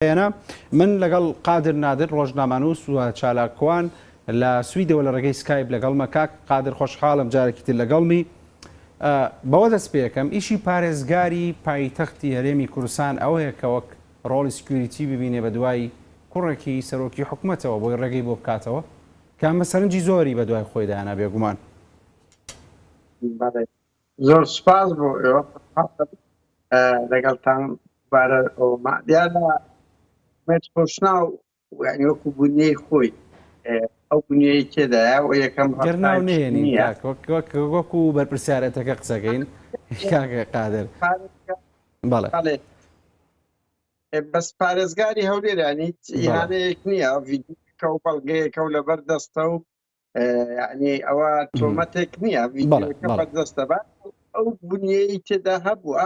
بەیانە من لەگەڵ قادر نادر ڕۆژنامەنووس و چالاکوان لە سویدەوە لە ڕێگەی سکایپ لەگەڵمە کاک قادر خۆشحاڵم جارێکی تر لەگەڵمی بەوە دەست پێکەم ئیشی پارێزگاری پایتەختی هەرێمی کوردستان ئەوەیە کە وەک ڕۆڵی سکیوریتی ببینێ بە دوای کوڕێکی سەرۆکی حکوومەتەوە بۆی ڕێگەی بۆ بکاتەوە کە ئەمە سەرنجی زۆری بە دوای خۆی دانا بێگومان زۆر سوپاس بۆ ئێوە خۆشحاڵم لەگەڵتان دوبارە ئەوما دیارە مێت خۆشناو یعنی وەکو بنیەی خۆی ئەو بنیەی تێدایە و یەکەم گەر ناو نێنین کاک وەک وەک وەکو بەرپرسیارەتەکە قسەکەین کاک قادر بەڵێ بەڵێ بەس پارێزگاری هەولێرانیت یانەیەک نییە ڤیدیۆکە و بەڵگەیەکە و لەبەر دەستە و یعنی ئەوە تۆمەتێک نییە دەستە بە ئەو بنیەی تێدا هەبووە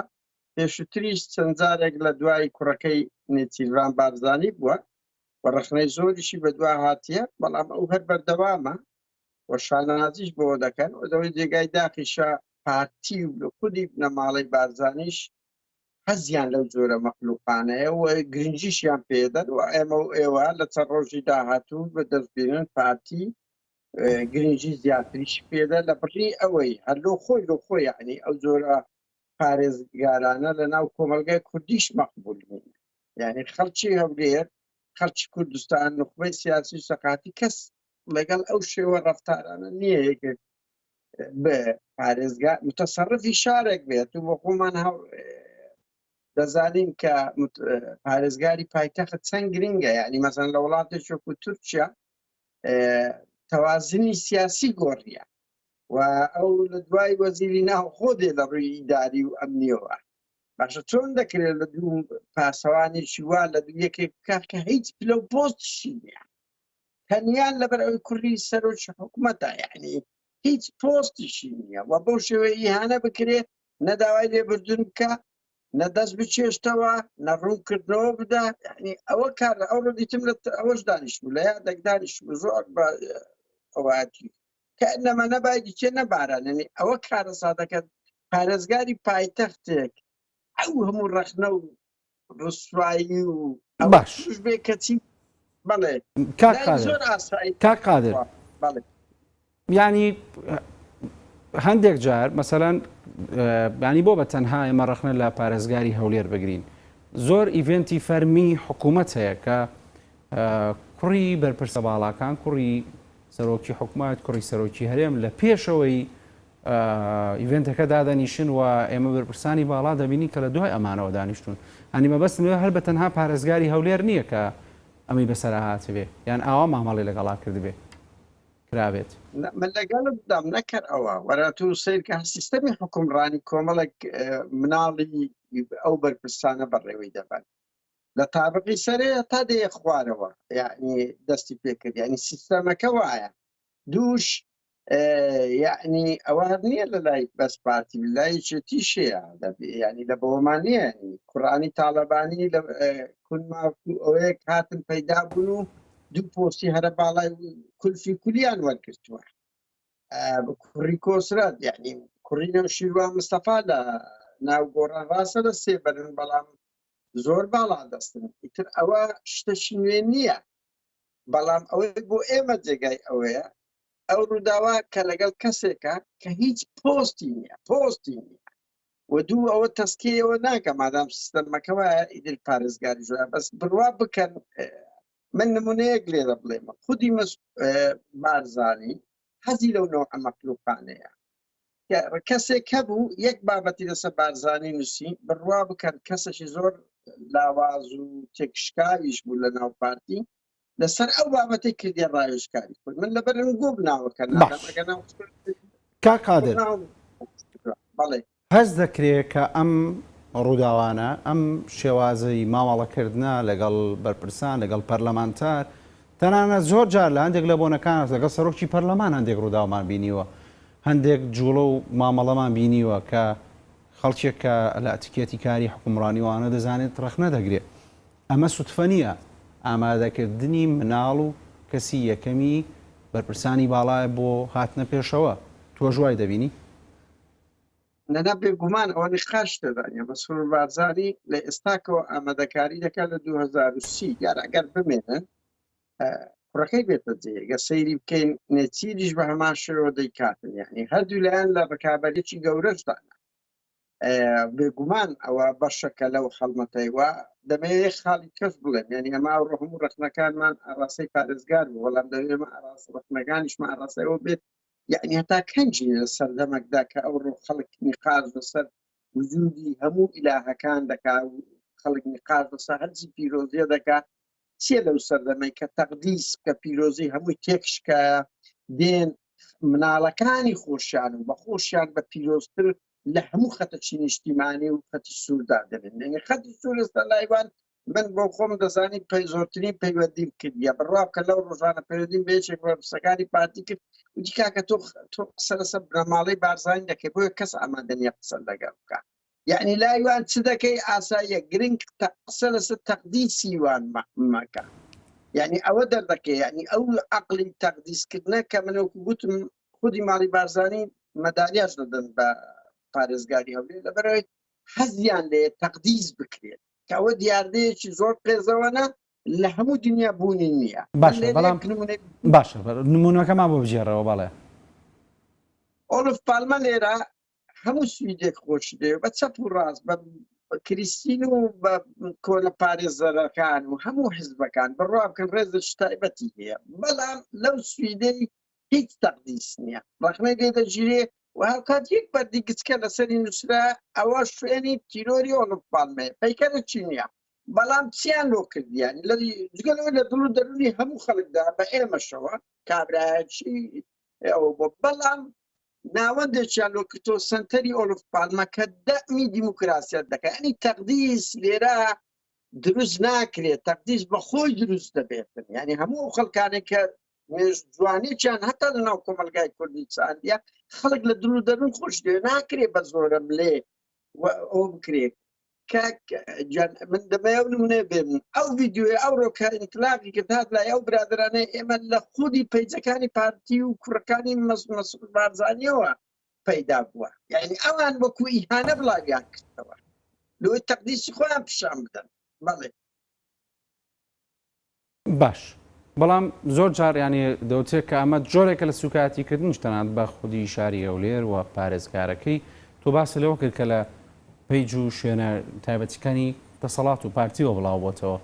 پێشتریش چەندجارێک لە دوای کوڕەکەی نێچیران بارزانانی بووە و ڕخنەی زۆریشی بەدوا هاتیە بەڵام ئەو هەر بەردەوامە و شانازیش بۆ دەکەن و دەوەی جێگای داخیشە پارتی و خودی بنەماڵی بارزانانیش حەزیان لەو جۆرە مەخلوقانەیە و گرنگیشیان پێدەن و ئێمە و ئێوە لە چەند ڕۆژی داهاتوو بە دەستبینن پارتی گرنگی زیاتریش پێدە لە بڕی ئەوەی هەر لۆ خۆی لۆ خۆی عنی ئەو جۆرە پارێزگارانە لە ناو کۆمەلگای کوردیش مەقبول بوون یعنی خەڵکی هەولێر خەڵکی کوردستان نخبەی سیاسی سەقاتی کەس لەگەڵ ئەو شێوە ڕفتارانە نییە یەکێک بە پارێزگا متەسەڕفی شارێک بێت و بە خۆمان دەزانین کە پارێزگاری پایتەخت چەند گرنگە یعنی مەزان لە وڵاتێک وەکو تورکیا تەوازنی سیاسی گۆڕیە و ئەو لە دوای وەزیری ناوخۆ دێ لە ڕووی ئیداری و ئەمنیەوە باشە چۆن دەکرێت لە دوو پاسەوانێکی وا لە دوو یەکێک بکات کە هیچ پلە و پۆستشی نیە تەنیا لەبەر ئەوی کوڕی سەرۆکی حکوومەتە یعنی هیچ پۆستیشی نییە و بەو شێوەیە ئیهانە بکرێ نەداوای لێبردن بکە نەدەست بچێشتەوە نەڕوونکردنەوە بدا یعنی ئەوە کار لە ئەو ڕدیتم لە ئەوەش دانیش بوو لە یادێک دانیش بوو زۆر بە ئەوواتی کە نەمە نەبایدی چێ نەباراننی ئەوە کارە سادەکەن پارێزگاری پایتەختێک ئەو هەموو ڕەخنە و ڕسوایی و باش توش بێ کەچی بەڵێ کاک لای قادر زۆر ئاسایی کاک قادر وا بەڵێ ینی هەندێک جار مەسەەن بانی بۆ بە تەنها ئێمە ڕخنە لە پارێزگاری هەولێر بگرین زۆر ئیڤنتی فەرمی حکوومەت هەیە کە کوڕی بەرپرسە باڵاکان کوڕی سەرۆکی حکوومەت کوڕی سەرۆکی هەرێم لە پێشەوەی ئیڤێنتەکە دادەنیشن و ئێمە بەرپرسانی باڵا دەبینین کە لە دوای ئەمانەوە دانیشتوون. هەنی مەبەستم لەوێ هەر بە تەنها پارێزگاری هەولێر نییە کە ئەمەی بەسەرا هاتبێ یان ئاوا مامەڵەی لەگەڵا کردبێ کرابێت. نە من لەگەڵتدام نەکەر ئەوە وەرە تو سەیرکە هەر سیستەمی حوکمڕانی کۆمەڵێک مناڵی ئەو بەرپرسانە بەڕێوەی دەبەن لە تابقی سەرێ تا دێیە خوارەوە یانی دەستی پێکرد یانی سیستەمەکە وایە دووش یعنی ئەوە نیە لە لای بەس پارتی لای یەکێتیشەیە یعنی لە بەوەمان نیە کوڕانی تاڵەبانی لە کونما ئەوەیەک هاتن پەیدا بوون و دوو پۆستی هەرە باڵای کولفی کولیان وەرگرتووە کوڕی کۆسرات یعنی کوڕی نەوشیروا مستەفا لە ناو گۆڕان ڕاستە لە سێبەرن بەڵام زۆر باڵا دەستن ئیتر ئەوە شتەشی نوێ نییە بەڵام ئەوەی بۆ ئێمە جێگای ئەوەیە ئەو ڕووداوە کە لەگەڵ کەسێکە کە هیچ پۆستی نیە پۆستی نیە و دوو ئەوە تەسکیەوە ناکە مادام سیستەمەکەەوە ئیدل پارێزگاری زۆر بەس بڕوا بکەن من نمونەیەک لێرە بڵێمە خودی مەس بارزانانی حەزی لەو نەوعە مەخلوقانەیە. کە کەسێک هەبوو یەک بابەتی لەسە بارزانی نووسی، بڕوا بکەن کەسێکی زۆر لاواز و تێکشکاویش بوو لە ناو پارتی، لەسەر ئەو بابەتەی کردیە ڕاوێژکاری خۆی. من لەبەر گووم ناوەکە نادەم، باش ئەگەر ناو کاک قادر. بەڵێ. هەست دەکرێ کە ئەم ڕووداوانە، ئەم شێوازی مامەڵەکردنە لەگەڵ بەرپرسان، لەگەڵ پەرلەمانتار، تەنانەت زۆر جار لە هەندێک لە بۆنەکان لەگەڵ سەرۆکی پەرلەمان هەندێک ڕووداومان بینیوە، هەندێک جووڵە و مامەڵەمان بینیوە کە خەڵکێک کە لە ئەتیکێتی کاری حوکمڕانی و ئەوانە دەزانێت ڕەخنە دەگرێ. ئەمە سوتفە نییە. ئامادەکردنی مناڵ و کەسی یەکەمی بەرپرسانی باڵایە بۆ هاتنە پێشەوە. تۆش وای دەبینی؟ نەنا بێ گومان ئەوە نخاش دەدانە مەسرور بارزانی لە ئێستاکەوە ئامادەکاری دەکات لە 2030 یار ئەگەر بمێنن کوڕەکەی بێتە جێگە سەیری بکەین نێچیریش بە هەمان شێوە دەیکاتن یعنی هەردوو لایەن لە ڕکابەرێکی گەورەشدانە بێگومان ئەوە بەشەکە لەو خەڵمەتەی وە دەمەوێ خاڵی کەس بڵێن یعنی ئەما ڕحم و ڕخنەکانمان ئاڕاستەی پارێزگار بوو وەڵام دەوێمە ئاراست ڕخنەکانیشمە ئاراستەوە بێت یەعنی هەتا کەنجی لە سەردەمەکدا کە ئەوڕۆ خەڵک نیقاش لەسەر وجودی هەموو ئیلاهەکان دەکا و خەڵک نیقاش لەسە هەرجی پیرۆزیە دەکا چیە لەو سەردەمەی کە تەقدیس کە پیرۆزی هەمووی تێکشکایە دێن مناڵەکانی خۆشیان و بە خۆشیان بە پیرۆزتر لە هەموو خەتەچی نیشتیمانی و خەتی سووردا دەبێن خەتی سوور لەسەر لایوان من بۆ خۆم دەزانی زۆرترین پەیوەندیم کردە بڕاو کە لەو ڕۆژانە پەیوەندیم بێچێک بەرپسەکانی پارتی کرد وتی کاکە تۆ تۆ قسە لەسەر بنەماڵەی بارزانانی دەکەی بۆیە کەس ئامادەنیە قسە لەگەڵ بکە یعنی لایوان چ دەکەی ئاساییە گرنگ قسە لەسەر تەقدی سیوان مەکە یعنی ئەوە دەردەکەی یعنی ئەو عقلی تەقدیسکردە کە منەوەکو گوتم خودی ماڵی بارزانانی مەدالیاش دەدەن بە پارێزگاری هەولێ لەبەرەوەی حەزیان لێ تەقدیز بکرێت کەوە دیاردەیەکی زۆر قێزەوەە لە هەموو دنیا بوونی نییە باش نمونونەکەمان بۆ بژێڕەوە بەڵێ ئۆلف پالمە لێرە هەموو سویدێک خۆش دێ بە چەپ و ڕاست بە کریسین و بە کۆلە پارێزەرەکان و هەموو حزبەکان بڕوا بکەن ڕێزش تایبەتی هەیە بەڵام لەو سویدەی هیچ تەقدیس نییە ڕخنەی لێ دەگیرێ و هاوکات یەک بەردی گچکە لەسەری نووسرا ئەوە شوێنی تیرۆری ئۆڵوپانمێ پەیکەرە چی نییە بەڵام چیان لۆ کردیان لە جگەلەوە لە دڵ و دەرونی هەموو خەڵکدا بە ئێمەشەوە کابراایەکی ئەوە بۆ بەڵام ناوەندێکیان لۆ کردۆ سنتەری ئۆلف پالمە کە دەمی دیموکراسیت دەکەن ئەنی تەقدیس لێرە دروست ناکرێت تەقدیس بە خۆی دروست دەبێتن ینی هەموو خەڵکانێک کە جوانێکیان هەتا لە ناو کۆمەلگای کوردی چاندە خەڵک لە دڵ و دەرون خۆش دێ ناکرێ بە زۆرە بلێ ئەو بکرێت من دەمەیە نمونێ بێن ئەو ویددیوێ ئەو ڕۆکە ئینتلاقی کرد هاات لای ئەو برادرانەی ئێمە لە خودی پەیجەکانی پارتی و کوڕەکانی مەسبارزانیەوە پەیدا بووە یعنی ئەوان وەکو ئیهانە بڵاویان کردەوە لۆی تەقدیسی خۆیان پیشان بدەن بەڵێ باش بەڵام زۆر جار یانی دەوترێت کە ئەمە جۆرێکە لە سوکایەتی کردنیش تەنانەت بە خودی شاری هەولێر و پارێزگارەکەی تۆ باست لەوە کرد کە لە پەیج و شوێنە تایبەتیکانی دەسەڵات و پارتیەوە بڵاو بۆتەوە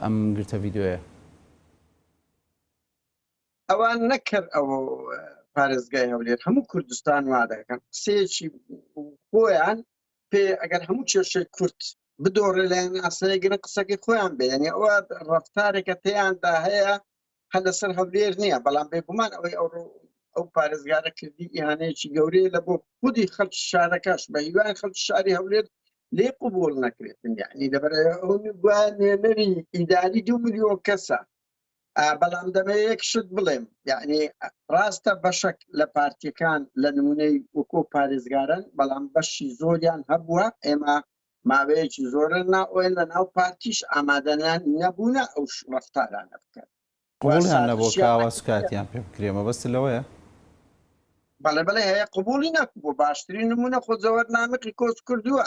ئەم گرتە ڤیدۆیە. ئەوان نەک هەر ئەو پارێزگای هەولێر هەموو کوردستان وا دەکەن قسەیەکی خۆیان پێ ئەگەر هەموو کێشەی کورد بدۆڕێ لایان ئاسایی گرن قسەکەی خۆیان بێ یعنی ئەوە ڕەفتارێکە تێیاندا هەیە هەر لەسەر هەولێر نییە بەڵام بێگومان ئەوەی ئەو ئەو پارێزگارە کردی ئیهانەیەکی گەورەیە لە بۆ خودی خەڵک شارەکەش بە هیوای خەڵک شاری هەولێر لێ قوبول نەکرێتن یعنی لەبەر ئەو گویا نوێنەری ئیداری دو ملیۆن کەسە بەڵام دەمەوێت یەک شت بڵێم یعنی ڕاستە بەشەک لە پارتیەکان لە نمونەی وەکۆ پارێزگارن بەڵام بەشی زۆریان هەبووە ئێمە ماوەیەکی زۆرە ناوەن لە ناو پارتیش ئامادەیان نەبوونە ئەو ڕفتارانە بکەن قوڵیان نەبوو کاوە سوکاتیان پێ بکرێ مەبەست لەوەیە بەڵێ بڵێ هەیە قوبولی نەکبوو باشترین نمونە خۆ زەوەر نامقی کۆچ کردووە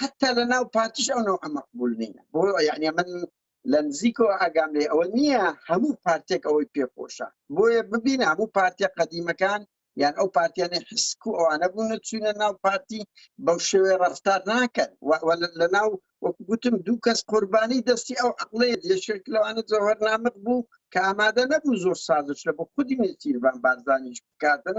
حتا لە ناو پارتیش ئەو نەوعە مەقبول نییە بۆ یعنی من لە نزیکەوە ئاگام لێ ئەوە نییە هەموو پارتێک ئەوەی پێخۆشە بۆیە ببین هەموو پارتیە قەدیمەکان یان ئەو پارتیانە حسک و ئەوانە بوونە چوینە ناو پارتی بەو شێوێ ڕفتار ناکەن لە ناو وەکوگوتم دوو کەس قوربانی دەستی ئەو عقلێ یەشێک لەوانە جەوهر نامق بوو کە ئامادە نەبوو زۆر سازش لە بۆ خودی نێچیربان بارزانیش بکاتن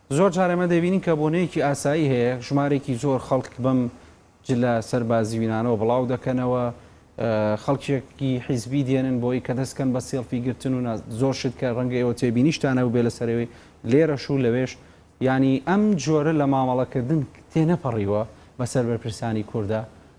زۆر جار ئێمە دەبینین کە بۆنەیەکی ئاسایی هەیە، ژمارێکی زۆر خەڵک بەم جلە سەربازیینانەوە بڵاو دەکەنەوە، خەڵکێکی حیزبی دێنن بۆی کە دەست کەن بە سێڵفی گرتن و زۆر شت کە ڕەنگە ئێوە تێبینیشتان هەبووبێ لە سەرەوەی لێرەش و لەوێش، یانی ئەم جۆرە لە مامەڵەکردن تێنەپەڕیوە بەسەر بەرپرسانی کورددا؟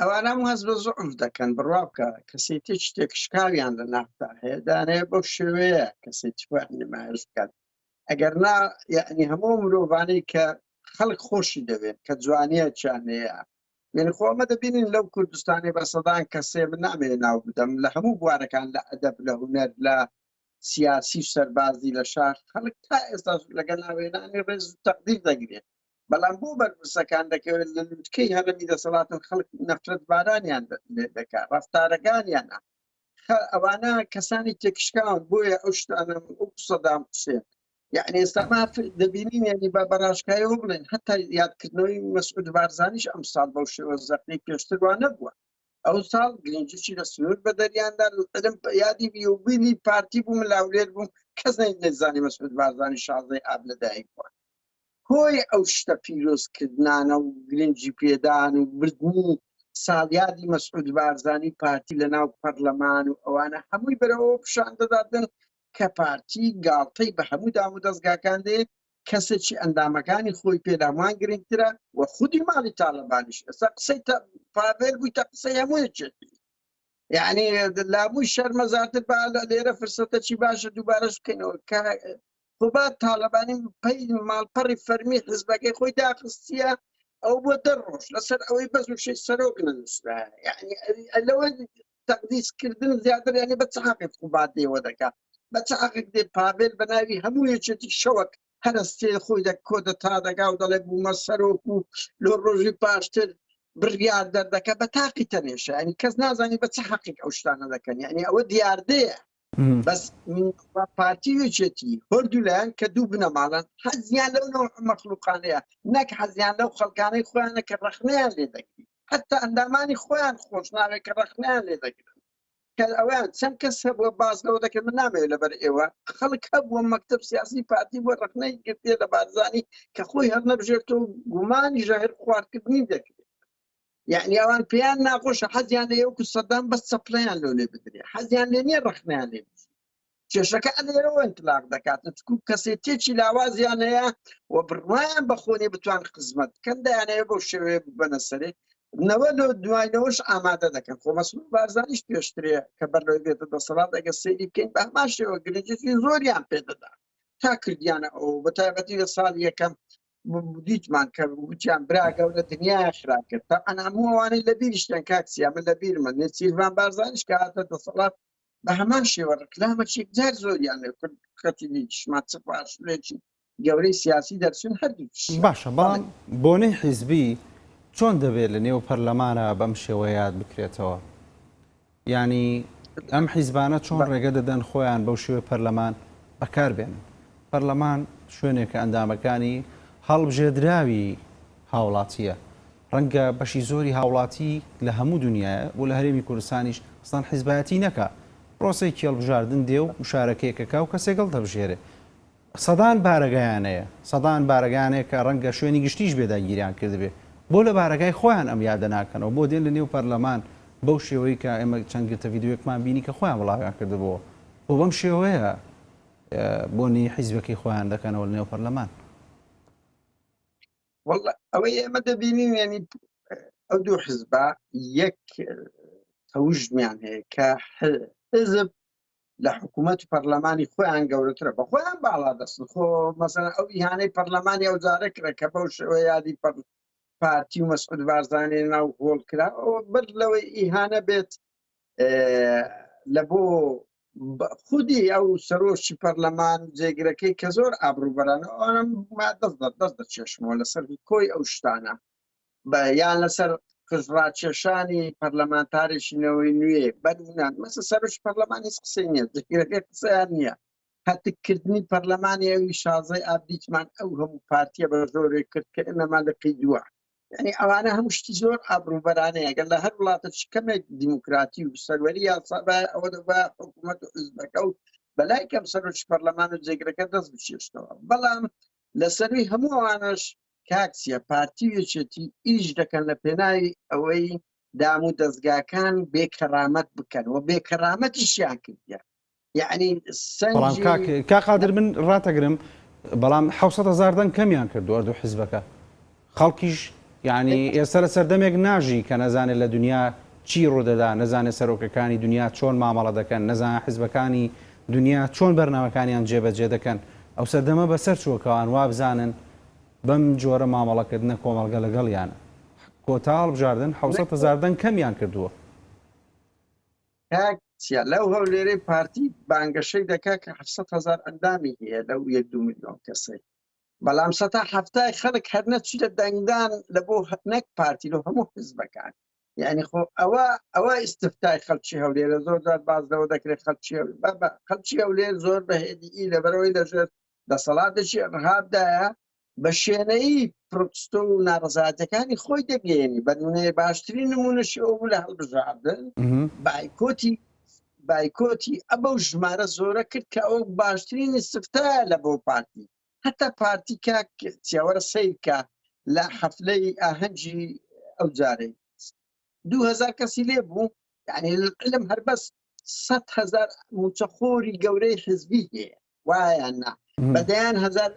ئەوانە هەموو هەست بە زوعف دەکەن، بڕوا بکە کەسێتیەکی تێکشکاویان لە ناخدا هەیە، دانەیە بەو شێوەیە کەسێتی خۆیان نمایش بکەن، ئەگەر نا یەعنی هەموو ئەو مرۆڤانەی کە خەڵک خۆشی دەوێن کە جوانیەکیان هەیە، یەعنی خۆ ئەمە دەبینین لەو کوردستانەی بە سەدان کەسێ من نامەوێ ناو بدەم لە هەموو بوارەکان لە ئەدەب لە هونەر لە سیاسی و سەربازی لە شاخ خەڵک تا ئێستاش لەگەڵ ناوێنانی ڕێز و تەقدیر دەگرێ، بەڵام بۆ بەرپرسەکان دەکەوێت لە لوتکەی هەرەمی دەسەڵات و خەڵک نەفرەت بارانیان لێ دەکا ڕەفتارەکانیانە ئەوانە کەسانی تێکشکاون بۆیە ئەو شتانە ئەو سەدام حسێن یعنی ئێستا ماف دەبینین یعنی بە بەڕاشکایەوە بڵێن هەتا یادکردنەوەی مەسعود بارزانیش ئەم ساڵ بەو شێوە زەقی پێشتروان نەبووە ئەو ساڵ گرنجی لە سنوور بە دەریاندا لەم یادی بیوبینی پارتی بوو ملاولێر بوو کەس نەیزانی مەسعود بارزانی شازدەی ئاب لەدایک بووە هۆی ئەو شتە پیرۆز کردنانە و گرنگی پێدان و بردنی ساڵیادی مەسعود بارزانی و پارتی لە ناو پەڕلەمان و ئەوانە هەمووی بەرەو ئەوە پشان دەداتن کە پارتی گاڵتەی بە هەموو دام و دەزگاکان دەیەت کەسێکی ئەندامەکانی خۆی پێ لە هەمووان گرنگترە و خودی ماڵی تاڵەبانیش ئێستا قسەی تە پاڤێل بووی تە قسەی هەموو یەکێتی یعنی لابووی شەرمەزارتر با لە لێرە فرسەتەکی باشە دووبارەش بکەینەوە کە قوباد تاڵەبانی پەی و ماڵپەڕی فەرمی حزبەکەی خۆی داخستیە ئەو بۆ دە ڕۆژ لەسەر ئەوەی بەز و شەی سەرۆک نەنووسرا یعنی لەوە تەقدیسکردن زیاتر یعنی بە چ حەقێک قوباد دێوە دەکا بە چ حەقێک دێ پاڤێل بە ناوی هەموو یەکێتی شەوەک هەرستێ خۆی دە کۆدەتا دەگا و دەڵێ بوومە سەرۆک و لۆ ڕۆژی پاشتر بڕیار دەردەکە بە تاقی تەنێشە ینی کەس نازانی بە چ حەقیق ئەو شتانە دەکەن ینی ئەوە دیاردەیە بەس پارتی وچێتی هەردوو لایەن کە دوو بنەماڵەن حەزیان لەو نەوع مەخلوقانەیە نەک حەزیان لەو خەڵکانەی خۆیانە کە ڕەخنەیان لێ دەگری حتا ئەندامانی خۆیان خۆش ناوێت کە ڕەخنەیان لێ دەگرن کە ئەویان چەند کەس هەبووە باز لەوە دەکرد من نامەوێت لەبەر ئێوە خەڵک هەبووە مەکتب سیاسی پارتی بۆ ڕەخنەی گرتێ لە بارزانی کە خۆی هەر نەبژێرتەوە گومانی ژەهر خواردکردنی دەکرێت یعنی ئەوان پێیان ناخۆشە حەزیان لە یەوکو سەدام بەس چەپڵیان لۆ لێ بدرێ حەزیان لێ نیە ڕخنیان لێ کێشەکە ئەلێرەوە انتلاق دەکات چکو کەسێتێکی لاوازیان هەیە و بڕوایان بەخۆنی بتوان خزمەت کەم دایانەیە بۆ شێوێ بنە سەرێ نەوە لۆ دوایەوەش ئامادە دەکەن خۆ مەسمون بارزانیش پێشترێ کە بەر لەوەی بێتە دەسەڵات ئەگە سەیری بکەین بە هەمان شێوە گرنجی زۆریان پێدەدا تا کردیانە ئەو بە تایبەتی لە ساڵ یەکەم دیتمان کە وتیان برا گەورە دنیا خرا کرد تا ئەنامووانەی لە بیریشتن کاکسیا من لە بیرمە نێچیرمان بارزانش کە هاتە دەسەڵات بە هەمان شێوە ڕکلامەچێک جار زۆریان لێ کرد کەتی نیشمان چ پاشلێکی گەورەی سیاسی دەرچون هەردوو باشە بەڵام بۆنەی حیزبی چۆن دەبێت لە نێو پەرلەمانە بەم شێوە یاد بکرێتەوە یانی ئەم حیزبانە چۆن ڕێگە دەدەن خۆیان بەو شێوەی پەرلەمان بەکار بێنن؟ پەرلەمان شوێنێکە ئەندامەکانی هەڵبژێردراوی هاوڵاتییە، ڕەنگە بەشی زۆری هاوڵاتی لە هەموو دونیایە و لە هەرێمی کوردستانیش ئەسڵەن حیزبایەتی نەکا، پرۆسەی کێڵبژاردن دێ و مشارەکەیەک ئەکا و کەسێک هەڵدەبژێرێ. سەدان بارەگایان هەیە، سەدان بارەگایان هەیە کە ڕەنگە شوێنی گشتیش بێ داگیریان کردبێ، بۆ لە بارەگای خۆیان ئەم یادە ناکەنەوە، بۆ دێن لە نێو پەرلەمان بەو شێوەی کە ئێمە چەند گرتە ڤیدیۆیەکمان بینی کە خۆیان بڵاویان کردبۆوە، بۆ بەم شێوەیە بۆنی حیزبەکەی خۆیان دەکەنەوە لە نێو پەرلەمان؟ وەڵا ئەوەی ئێمە دەبینین یانی ئەو دوو حزبە یەک تەوژمیان هەیە کە حزب لە حکوومەت و پەرلەمانی خۆیان گەورەترە بە خۆیان باڵا دەستن خۆ مەسەن ئەو ئیهانەی پەرلەمانی ئەو جارە کرە کە بەو شێوە یادی پارتی و مەسعود بارزانانی ناو هۆڵ کرا بەر لەوەی ئیهانە بێت لە بۆ خودی ئەو سەرۆکی پەرلەمان جێگرەکەی کە زۆر ئابروبەرانە ئەم دەست دەست دەست دەچێشمەوە لەسەر کۆی ئەو شتانە بە یان لەسەر قژڕاکێشانی پەرلەمانتارێکی نەوەی نوێ بەرنان مەسە سەرش پەرلەمانی قسەی نیە قسەیان نییە هەتککردنی پەرلەمانی ئەوی شازای ئابدیتمان ئەو هەموو پارتیە بە زۆرێک کرد کە ئێمەمان لە پێی دووە ینی ئەوانە هەموو شتی زۆر ئابروبەرانەیە گەل لە هەر وڵاتە کەمێک دیموکراتی و سەروەری یاسا ئەوە دەبە حکوومەت و حزبەکە و بەلای کەم سەرۆکی پەرلەمان و جێگرەکە دەست بچێشتەوە بەڵام لەسەروی هەموو ئەوانەش کاک چیا پارتی و یەکێتی ئیش دەکەن لە پێناوی ئەوەی دام و دەزگاکان بێ کەرامەت بکەن و بێ کەرامەتیشیان کردیە یەعنی سەنگی کاک قادر من راتەگرم بەڵام حەوسەت هەزار دەنگ کەمیان کردوە دوو حیزبەکە. خەڵکیش یانی ئێستا لە سەردەمێک ناژی کە نەزانێت لە دونیا چی ڕوودەدا، نەزانێت سەرۆکەکانی دونیا چۆن مامەڵە دەکەن، نەزانێت حیزبەکانی دونیا چۆن بەرنامەکانیان جێبەجێ دەکەن، ئەو سەردەمە بەسەر چووە کە ئەوان وابزانن بەم جۆرە مامەڵەکردنە کۆمەڵگە لەگەڵیانە کۆتا هەڵبژاردن حەوسەت هەزار دەنگ کەمیان کردووە. کاک چیا لەو هەولێرەی پارتی بانگەشەی دەکات کە حەفسەت هەزار ئەندامی هەیە لەو یەک دوو ملیۆن کەسەی بەڵام سەتا حەفتای خەڵک هەر نەچیتە دەنگدان لە بۆ نەک پارتی لۆ هەموو حزبەکان یعنی خۆ ئەوە ئەوە ئیسفتای خەلکی هەولێرە زۆر جار باز لەوە دەکرێت خەلکی بابا خەلکی هەولێر زۆر بەهێدی لەبەرەوەی لەژێر دەسەڵاتێکی ڕهابدایە بە شوێنەی پرۆتستۆ و ناڕزاتەکانی خۆی دەگەێنی بەنمونەیە باشترین نمونەشی ئەو لە هەڵبژاردن بایکۆتی بایکۆتی ئەبەو ژمارە زۆرە کرد کە ئەوە باشترین استفتایە لە بۆ پارتی هەتا پارتی کاک چیاوەرە سەیرکە لە حەفلەی ئاهەنگی ئەو جارەی دوو هەزار کەسی لێ بوو یعنی علم هەر بەس سەد هەزار موچەخۆری گەورەی حزبی هەیە وایان نا بەدەیان هەزار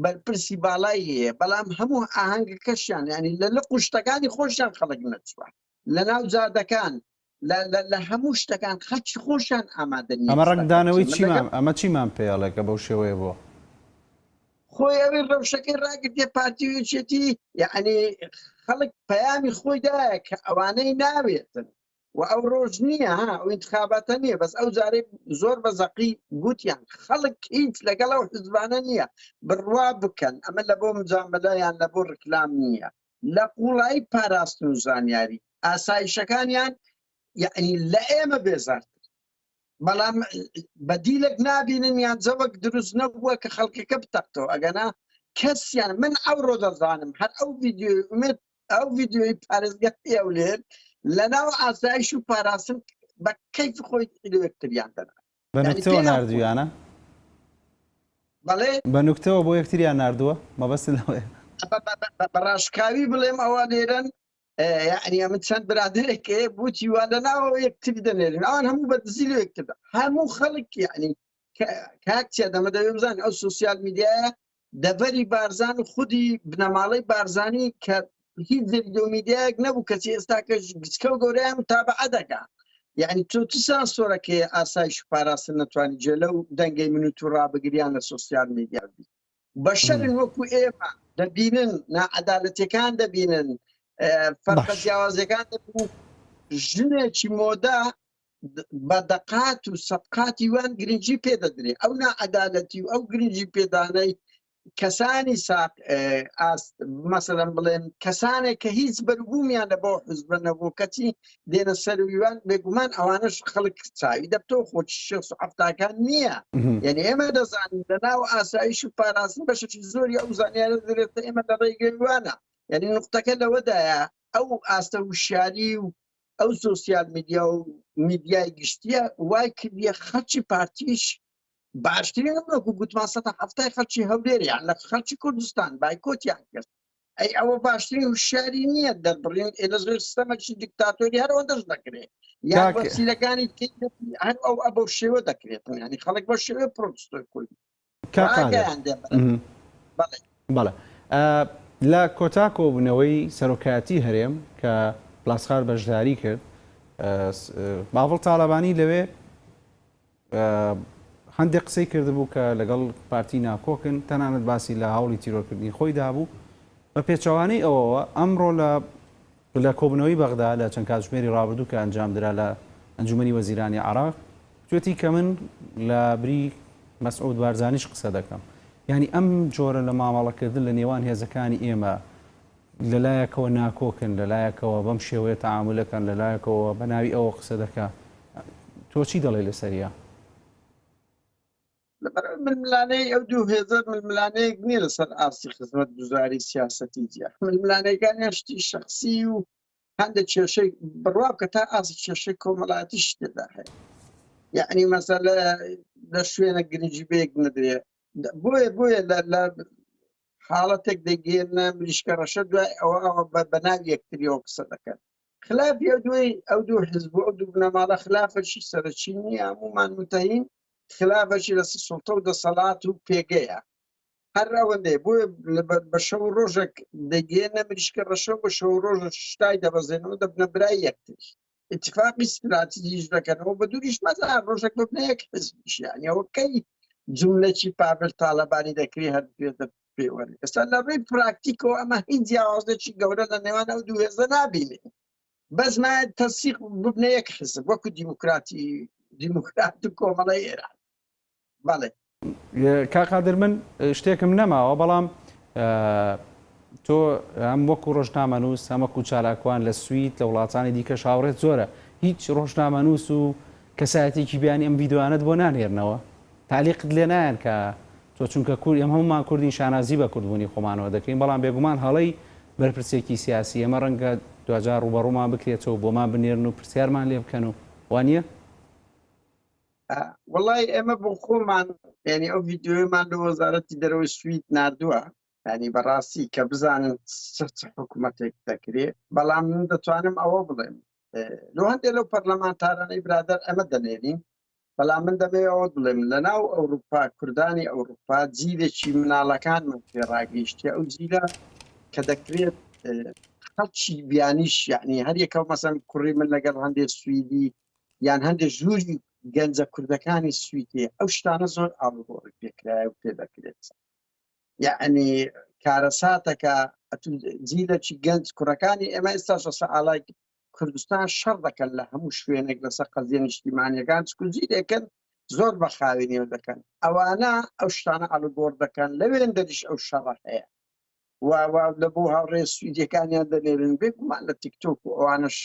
بەرپرسی باڵای هەیە بەڵام هەموو ئاهەنگەکەشیان ینی لە لە قوشتەکانی خۆشیان خەڵک نەچوە لە ناو جادەکان لە هەموو شتەکان خەچی خۆشیان ئامادە ئەمە ڕنگدانەوەی چیمان ئەمە چیمان پێڵێکە بەو شێوەیە بۆ خۆی ئەوی ڕەوشەکەی ڕاگرتێ پارتیویچێتی یعنی خەڵک پەیامی خۆی دایە کە ئەوانەی ناوێتن و ئەو ڕۆژ نییە ها ئەو انتخاباتە نییە بەس ئەو جارێک زۆر بە زەقی گوتیان خەڵک هیچ لەگەڵ ئەو حزبانە نییە بڕوا بکەن ئەمە لە بۆ مجاملەیان لە بۆ ڕکلام نییە لە قوڵایی پاراستن و زانیاری ئاسایشەکانیان یەعنی لە ئێمە بێزارتر بەڵام بەدیلێک نابینن یان جەوەک دروست نەبووە کە خەڵکەکە بتەقتەوە ئەگەنا کەسیان من ئەوڕۆ دەزانم هەر ئەو ڤیددیوی ئومێت ئەو ڤیددیوی پارێزگە پێولێت لە ناو ئاسایش و پاراستن بە کەیف خۆی لەوەکتریان دەنا بە نوکتەوە ناردویانە؟ بەڵێ. بە نوکتەوە بۆ یەکتریان ناردووە؟ مەبەستت لەوەیە. بە ڕاشکاوی بڵێم ئەوە نێرن یەعنی ئەمن چەند برادەرێک هەیە بۆچی وا لە ناوەوە یەکتری دەنێرن ئەوان هەموو بە دزی لە یەکتردا هەموو خەڵک یەعنی کاک چیا دەمە دەوێ بزانن ئەو سۆسیال میدیایە دەڤەری بارزان و خودی بنەماڵەی بارزانی کە هیچ زرد و میدیایەک نەبوو کەچی ئێستاکە گچکە و گەوریان تابعە دەکا یعنی تۆ چ سانسۆرەکەی ئاسایش و پاراستن نەتوانانی جێ لەو دەنگەی من و تو ڕابگریان لە سۆسیال میدیا بی بەشەرن وەکو ئێمە دەبینن ناعەدالەتەکان دەبینن فەرقە باش. جیاوازەکان دەبینن ژنێکی مۆدا بە دەقات و سەبقاتی وان گرنگی پێ دەدرێ ئەو ناعەدالەتی و ئەو گرنگی پێدانەی کەسانی ساق ئاست مەسەرم بڵێن کەسانێک کە هیچ بەربوومیان لە بۆ حزبە نەبوو کەچی دێنە سەرویوان بێگومان ئەوانش خەڵک چاوی دەبتۆ خۆ شخصفتاکان نییە یعنی ئێمە دەزانین لە ناو ئاسایش و پاراستن بەشێکی زۆری ئەو زانیارە دەرێتە ئێمە لە ڕێگەوانە یعنی نقطەکە لەوەدایە ئەو ئاستە وشیاری و ئەو سۆسیال میدیا و میدیای گشتیە وای کردە خەرچی پارتیش باشترین ئەمرۆکو گوتمان سە هەفتای خەرچی هەولێریان لە خەرچی کوردستان بایکۆتیان کرد ئەی ئەوە باشترین و شاری نییە دەبڕین ئێلە زۆر سیستەمەکی دیکتاتۆری هەرەوە دەست دەکرێت یان وەسیلەکانی هەر ئەو ئە بەو شێوە دەکرێتن ینی خەڵک بە شێوە پرۆتستۆی کوردی کاک قادر بەڵێ لە کۆتا کۆبوونەوەی سەرۆکایەتی هەرێم کە پلاسخار بەشداری کرد باڤڵ تاڵەبانی لەوێ هەندێک قسەی کردبوو کە لەگەڵ پارتی ناکۆکن تەنانەت باسی لە هەوڵی تیرۆرکردنی خۆی دابوو بە پێچەوانەی ئەوەوە ئەمڕۆ لە لە کۆبوونەوەی بەغدا لە چەند کاتژمێری ڕابردوو کە ئەنجامدرا لە ئەنجوومەنی وەزیرانی عێراق، گوتوویەتی کە من لە بری مەسعود بارزانیش قسە دەکەم. یانی ئەم جۆرە لە مامەڵەکردن لە نێوان هێزەکانی ئێمە لە لایەکەوە ناکۆکن، لە لایەکەوە بەم شێوەیە تەعامول دەکەن، لە لایەکەوە بە ناوی ئەوە قسە دەکا. تۆ چی دەڵێی لەسەریا؟ لەبەرەوەی ململانەی ئەو دوو هێزە ململانەیەک نییە لەسەر ئاستی خزمەت گوزاری سیاسەتی جیا ململانەکانیان شتی شخصی و هەندێک کێشەی بڕوا کە تا ئاسی کێشەی کۆمەڵاتی شتێدا هەیە یعنی مەسەلە لە شوێنە گرنگجی بێک نەدرێ بۆیە بۆیە لە حاڵەتێک دەگەێنە مریشکە ڕەشە دوای ئەوە ئەوە بە بەناو یەکتریەوە قسە دەکەن خلافی ئەو دوی ئەو دوو حزب ئەو دوو بنەماڵە خلافەشی سەرچی نییە هەمومان متین خلافەکی لەسەر سوڵتە و دەسەڵات و پێگەیە هەر ئەوەندەی بۆ بە شەو ڕۆژێک دەگەێنە مریشکە ڕەشە بە شەو ڕۆژ شتای دەبەزێنەوە دەبنە برای یەکتر اتفاقی استراتیژیش دەکەنەوە بە دووریش مەزا ڕۆژێک ببنە یەک حزبیشیانەوە کەی جملەکی پاڤل تاالبانی دەکری هەر پێدە پێوەر ئێستا لە ڕێی پراکتیکەوە ئەمە هیچ جیاوازێکی گەورە لە نێوان ئەو دوو هێزە نابینێ بەس نایەت تەسیق ببنە یەک حزب وەکو دیموکراتی دیموکرات و کۆمەڵی ئێران بەڵێ کاقادر من شتێکم نەماوە بەڵام تۆ ئەم وەکو ڕۆژنامەنووس ئەمەکو چالاکوان لە سوید لە وڵاتانی دیکە شاوڕێت زۆرە هیچ ڕۆژنامەنووس و کەسایەتێکی بیانی ئەم ویددیوانت بۆ نانێرنەوە تالیقت لێ نایەن کە تۆ چونکە کورد ئێمە هەموومان کوردین شانازی بە کوردبوونی خۆمانەوە دەکەین بەڵام بێگومان هەڵەی بەرپرسێکی سیاسی ئێمە ڕەنگە دواجار ڕووبەڕوومان بکرێتەوە بۆمان بنێرن و پرسیارمان لێ بکەن و وا نییە؟ وەڵای ئێمە بۆ خۆمان یانی ئەو ڤیدیۆیەمان لە وەزارەتی دەرەوەی سوید ناردووە یانی بەڕاستی کە بزانن چ حکوومەتێک دەکرێ بەڵام من دەتوانم ئەوە بڵێم لۆ هەندێک لەو پەرلەمانتارانەی برادەر ئەمە دەنێرین بەڵام من دەمەوێ ئەوە بڵێم لەناو ئەوروپا کوردانی ئەوروپا جیلێکی مناڵەکانمان پێ ڕاگەیشتیە ئەو جیلە کە دەکرێت خەڵکی بیانیش یعنی هەریەکەو مەسەن کوڕی من لەگەڵ هەندێ سویدی یان هەندێک ژووری گەنجە کوردەکانی سویتێ ئەو شتانە زۆر ئاڵگۆڕی پێکرایە و پێ دەکرێت یعنی کارەساتەکە جیلەکی گەنج کوڕەکانی ئێمە ئێستا شەسە ئالای کوردستان شەڕ دەکەن لە هەموو شوێنێک لەسەر قەزیە نیشتیمانیەکان چکو جی دەکەن زۆر بە خاوێنیەوە دەکەن ئەوانە ئەو شتانە ئەڵگۆڕ دەکەن لەوێن دەریش ئەو شەڕە هەیە و لە بۆ هاوڕێ سویدەکانیان دەنێرن بێگومان لە تیکتۆک و ئەوانش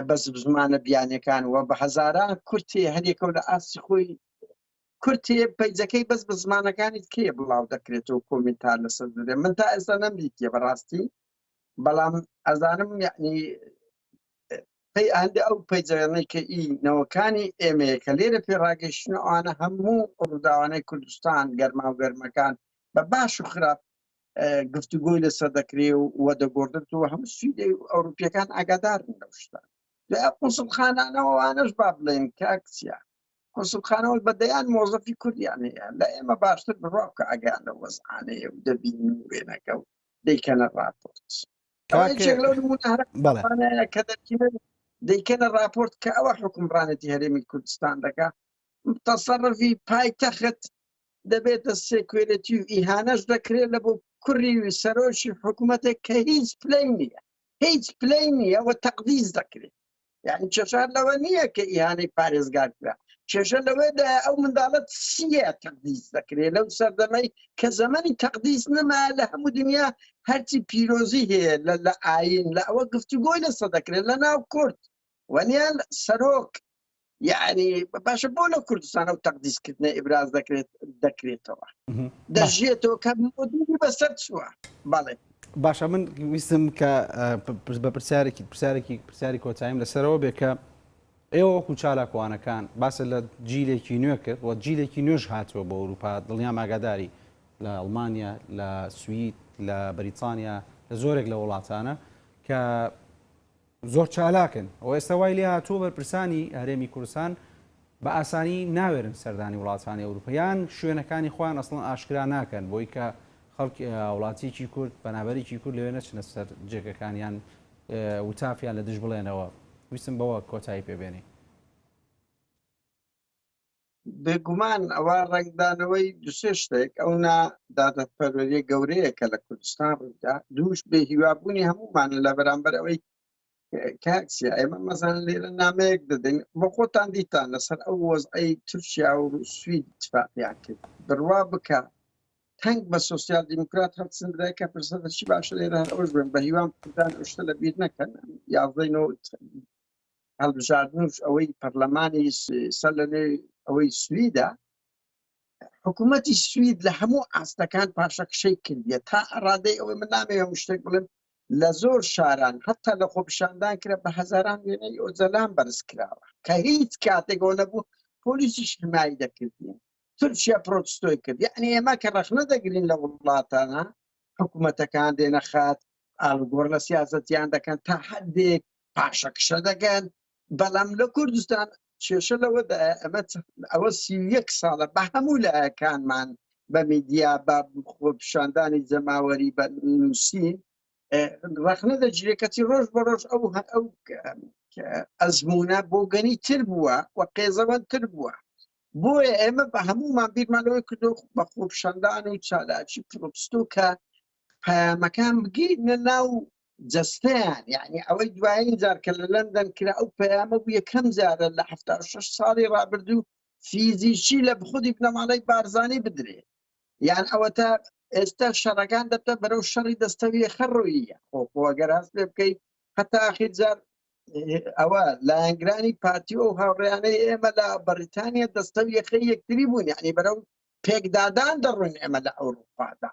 بە زمانە بیانەکان وە بە هەزاران کورتی هەرێکە لە ئاستی خۆی کورتی پیجەکەی بەس بە زمانەکانی کێ بڵاو دەکرێتەوە کۆمنتار لەسەر دەێ من تا ئێستا نەمدیتە بەڕاستی بەڵام ئەزانم یعنی پێی ئاندە ئەو پەیجەێنەی کە ئی نەوەکانی ئێمەیە کە لێرە پێ ڕاگەیشتن ئەوانە هەموو ڕووداوانەی کوردستان گەرما و گەرمەکان بە باش و خراپ گفتوگۆی لەسەر دەکرێ و وە دەگۆردنەوە هەموو سویدە و ئەوروپیەکان ئاگادارن لەو شتان لە قوسڵخانانەوەوانەش با بڵێن کاکسیا کونسڵخانە وەک بە دەیان مۆزەفی کوردیان هەیە لە ئێمە باشتر بڕوا بکە ئەگەیان لە وەزعانەیە و دەبین و وێنەکە و دەیکەنە ڕاپۆرت کاکێک لەو نمونەهرە کە دەکیمە دەیکەنە ڕاپۆرت کە ئەوە حکومڕانێتی هەرێمی کوردستان دەکە تەسەڕفی پایتەخت دەبێتە سێکوێرەتی و ئیهانەش دەکرێت لە بۆ کوڕی سەرۆکی حکوومەتێک کە هیچ پلەی نییە هیچ پلەی نییە و تەقدیز دەکرێت یعنی کێشە لەوە نییە کە ئیهانەی پارێزگار کرا کێشە لەوەدا ئەو منداڵە چییە تەقدیس دەکرێت لەو سەردەمەی کە زەمەنی تەقدیس نەما لە هەموو دنیا هەرچی پیرۆزی هەیە لە لە ئاین لە ئەوە گفتوگۆی لەسە دەکرێت لە ناو کورد وەنیان سەرۆک یعنی باشە بۆ لە کوردستانە و تەقدیسکردنە ئبراز دەکرێت دەکرێتەوە دەژێتەوە کە بەسەر چووە بەڵێ باشە من ویستم کە بە پرسیارێکی پرسیارێکی پرسیاری کۆتاییم لەسەرەوە بێ کە ئێوە وەکو چالاکوانەکان باسە لە جیلێکی نوێ کرد وە جیلێکی نوێژ هاتووە بۆ ئەوروپا دڵنیا ماگاداری لە ئەڵمانیا لە سوید لە بەریتانیا لە زۆرێک لە وڵاتانە کە زۆر چالاکن و ئێستا وای لێ هاتووە بەرپرسانی هەرێمی کوردستان بە ئاسانی ناوێرن سەردانی وڵاتانی ئەوروپا یان شوێنەکانی خۆیان ئەسڵەن ئاشکرا ناکەن بۆی کە خەڵک وڵاتیکی کورد بەنابەرێکی کورد لەوێ نەچنە سەر جێگەکانیان وتافیان لە دژ بڵێنەوە ویستم بەوە کۆتایی پێبێنی بێگومان ئەوە ڕەنگدانەوەی دوسێ شتێک ئەو نا دادەپەروەریە گەورەیە کە لە کوردستان ڕوویدا دووش بێ هیوابوونی هەمومانە لە بەرامبەر ئەوەی کاکسە ئێمە مەزان لێرە نامەیەک دەدەین بە خۆتان دیتان لەسەر ئەو وەزعی تورکیا و سوید تفاقیان کرد بڕوا بکە تەنگ بە سوسیال دیموکرات هەڵسندرای کە پرسەدەشی باشە لێرە هەر ئەوش بن بە هیوام کوردان ئەو شتە لە بیر نەکەن یاڵدەینەوە هەڵبژاردنوش ئەوەی پەرلەمانی سەر لەنوێ ئەوەی سویدە حکوومەتی سوید لە هەموو ئاستەکان پاشەکشەی کردە تا ئەڕادەی ئەوەی من نامێ هەموو شتێک بڵێم لە زۆر شاران هەتا لە خۆپیشاندان کرا بە هەزاران وێنەی ئۆجەلان بەرز کراوە کە هیچ کاتێکەوە نەبوو پۆلیسیش حمایی دەکردین تورکیا پرۆتستۆی کرد یعنی ئێمە کە ڕەخنە دەگرین لە وڵاتانە حکوومەتەکان دێنە خات ئالگۆر لە سیاستیان دەکەن تا هەندێک پاشەکشە دەکەن بەڵام لە کوردستان کێشە لەوەدا ئەمە ئەوە سی یەک ساڵە بە هەموو لایەکانمان بە میدیا بە خۆ پیشاندانی جەماوەری بە نووسین ڕخنە دەگیرێت کەچی ڕۆژ بە ڕۆژ ئەو ئەو ئەزمونە بۆ گەنی تر بووە و قێزەوەن تر بووە بۆیە ئێمە بە هەموومان بیرمانەوەی کردو بە خۆپشاندان و چالاکی پرۆپستۆ کە پەیامەکان بگەینە ناو جەستەیان یانی ئەوەی دوایین جار کە لە لەندەن کرا ئەو پەیامە بوو یەکەم جارە لە حەفتا و شەش ساڵی ڕابردوو فیزیکی لە خودی بنەماڵەی بارزانی بدرێ یان ئەوەتا ئێستا شەڕەکان دەبتە بەرەو شەڕی دەستەویە خەڕۆییە خۆخۆگەر هەست لێ بکەیت هەتا ئاخیر جار ئەوە لایەنگرانی پارتی و هاوڕیانەی ئێمە لە بەریتانیا دەستەویەخەی یەکتری بوون یعنی بەرەو پێکدادان دەڕوون ئێمە لە ئەوروپادا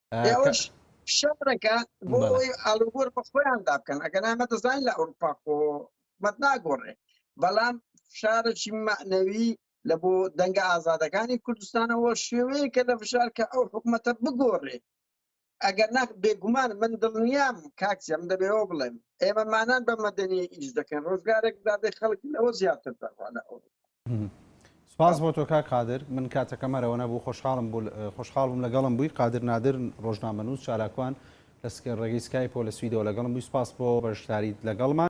ئێوەش شەڕەکە بۆ ئەوەی ئاڵوگۆر بە خۆیاندا بکەن ئەگەر ئەمە دەزانین لە ئەوروپا خۆ حکومەت ناگۆڕێ بەڵام فشارێکی مەعنەوی لە بۆ دەنگە ئازادەکانی کوردستانەوە شێوەیەکە لە فشار کە ئەو حکوومەتە بگۆڕێ ئەگەر ناخ بێگومان من دڵنیام کاکسیم دەبێەوە بڵێم ئێمەمانان بە مەدەنی ئیش دەکەن ڕۆژگارێک دادێ خەڵکی لەوە زیاتر دەڕوانە ئەوروپا سپاس بۆ تۆ کاک قادر من کاتەکەم هەرەوە نەبوو خۆشحاڵم بوو خۆشحاڵ بووم لەگەڵم بووی قادر نادر ڕۆژنامەنووس چالاکوان لە ڕێگەی سکایپۆ لە سویدەوە لەگەڵم بووی سپاس بۆ بەشداریت لەگەڵمان